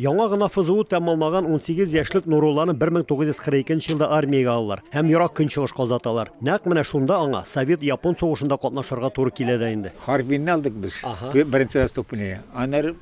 Яңа гына ФЗУ тәмамлаган 18 яшьлек Нурулланы 1942 елда армиягә алалар һәм Ерак Көнчыгышка озаталар. Нәкъ менә шунда аңа совет-япон сугышында катнашырга туры килә дә инде. Харбинны алдык без, беренче заступнигы. Аннары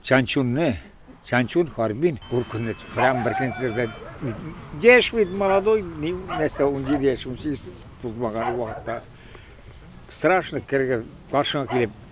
Чанчунны, Чанчун, Харбин, куркыныч. Прям беркөнне сөрдә. Яшь бит, молодой, нәрсә, 17 яшь, 18 тулмаган вакытта. Страшно керергә, каршыңа килеп,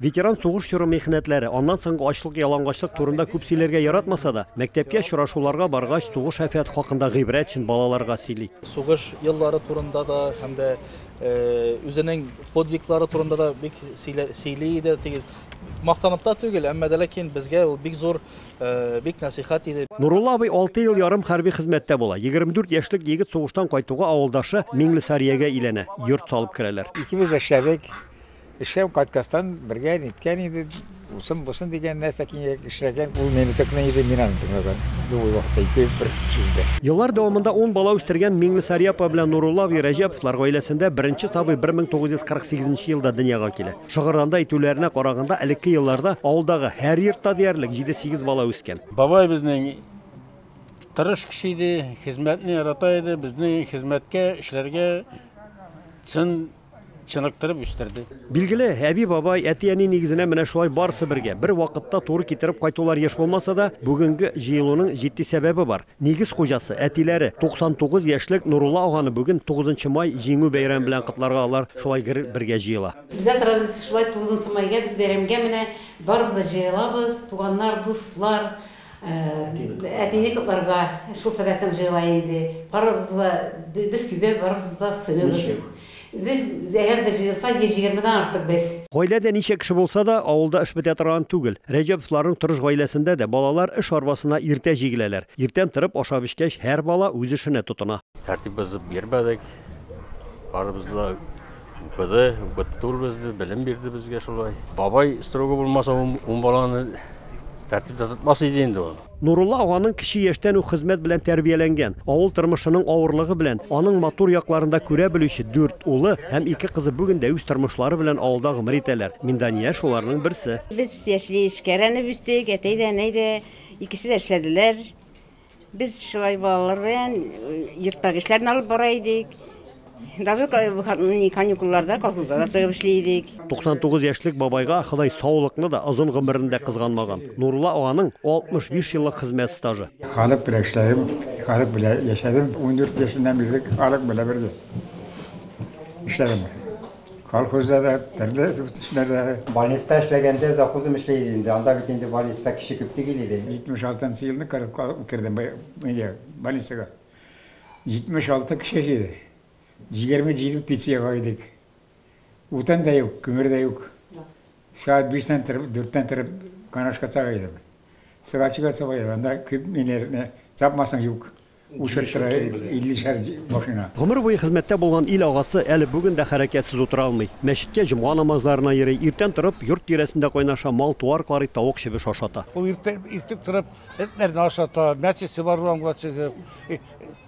Ветеран сугыш чоры михнәтләре, аннан соңгы ачлык-ялангачлык турында күп сөйләргә яратмаса да, мәктәпкә очрашуларга баргач, сугыш-афәт хакында гыйбрәт өчен балаларга сөйли. Сугыш еллары турында да һәм дә үзенең подвиглары турында да бик сөйли иде. Теге мактанып та түгел, әмма дә ләкин безгә ул бик зур, бик насихат иде. Нурулла абый алты ел ярым хәрби хезмәттә була. 24 яшьлек егет сугыштан кайтуга авылдашы Миңлесариягә иләнә, йорт салып керәләр. Икебез дә эшләдек. Эштән кайткастан бергә ниткән иде, усын бусын дигән нәрсә киңрәк эшләгән. Ул мине тыкны иде, мин аны тыңлаган. Бу вакытта ике бер сүздә. Еллар дәвамында ун бала үстергән Миңнесари апа белән Нурулла абый Рәҗәповлар гаиләсендә беренче сабый 1948 нче елда дөньяга килә. Шыгырданда әйтүләренә караганда, элекке елларда авылдагы һәр йортта диярлек җиде-сигез бала үскән. Бабай безнең тырыш кеше иде, хезмәтне ярата иде, безне хезмәткә, эшләргә чын Чыныктырып үстерде. Билгеле, әби-бабай, әти-әни нигезенә менә шулай барысы бергә, бер вакытта туры китереп кайтулар еш булмаса да, бүгенге җыелуның җитди сәбәбе бар. Нигез хуҗасы, әтиләре, 99 яшьлек Нурулла аганы бүген, 9 май, Җиңү бәйрәме белән котларга алар шулай гер бергә җыела. Бездә традиция шулай, 9 майга без бәйрәмгә менә барыбыз да җыелабыз, туганнар, дуслар, Әтине котларга шул сәбәптән җыела инде. Барыбыз да, без көйбә, барыбыз да сыймыйбыз. Без, әгәр дә җыелсак, 120 дән артык без. Гаиләдә ничә кеше булса да, авылда эш бетә торган түгел. Рәҗәповларның тырыш гаиләсендә дә балалар эш арбасына иртә җигеләләр. Иртән торып, ашап-эчкәч, һәр бала үз эшенә тотына. Тәртип бозып йөрмәдек. Барыбыз да Укыды, укытты ул безне, белем бирде безгә шулай. Бабай строгы булмаса, ун баланы тәртиптә тотмас иде инде ул. Нурулла аганың кече яшьтән үк хезмәт белән тәрбияләнгән, авыл тормышының авырлыгы белән аның матур якларын да күрә белүче дүрт улы һәм ике кызы бүген дә үз тормышлары белән авылда гомер итәләр. Миндания шуларның берсе. Без яшьли эшкәрәнеп үстек, әтәй дә, әнәй дә икесе дә эшләделәр. Без шулай балалар белән йорттагы эшләрне алып бара идек. Даже каникулларда колхозда да чыгып эшли идек. 99 яшьлек бабайга Ходай саулыкны да, озын гомерен дә кызганмаган. Нурулла аганың 65 еллык хезмәт стажы. Халык белән эшләдем, халык белән яшәдем. Ундүрт яшеннән бирле халык белән бергә эшләдем. Колхозда да, төрле төсләрдә. Больниста эшләгәндә завхозым эшли иде инде. Анда бит инде больниста кеше күп түгел иде. 76 нчы елны Кырымга кердем, әйе, больницага. 76 кеше иде. Җигерме җиде пенсиягә идек. Утын да юк, күмер дә юк. Сәгать биштән торып, дүрттән торып, канашка чыга идем. Сыгачыга чыга идем, анда күп ниләрне тапмасаң, юк. Үсертера иллешәр машина. Гомер буе хезмәттә булган ил агасы әле бүген дә хәрәкәтсез утыра алмый. Мәчеткә җомга намазларына йөри, иртән торып, йорт тирәсендә кайнаша, мал-туар карый, тавык чебеш ашата. Ул иртә, иртүк торып, этләрне ашата, мәчесе бар урамга чыгып,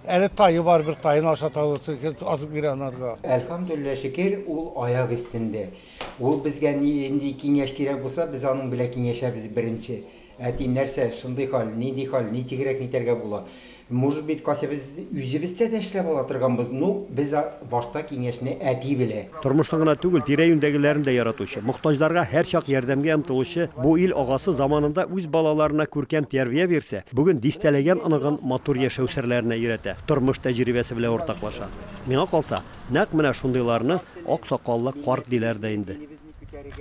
әле тае бар, бер таен ашата ул, азык бирә анарга. Әлхәмдүлилләһ, шөкер, ул аяк өстендә. Ул безгә ни, нинди киңәш кирәк булса, без аның белән киңәшәбез беренче. Әти, нәрсә, шундый хәл, нинди хәл, ничегрәк нитәргә була? Может быть, кайсы без үзебезчә дә эшләп ала торганбыз, ну, без а, башта киңәшне әти белә. Тормышны гына түгел, тирә-юньдәгеләрен дә яратучы, мохтаҗларга һәрчак ярдәмгә омтылучы бу ил агасы заманында үз балаларына күркәм тәрбия бирсә, бүген дистәләгән оныгын матур яшәү серләренә өйрәтә, тормыш тәҗрибәсе белән уртаклаша. Миңа калса, нәкъ менә шундыйларны аксакаллы карт диләр дә инде.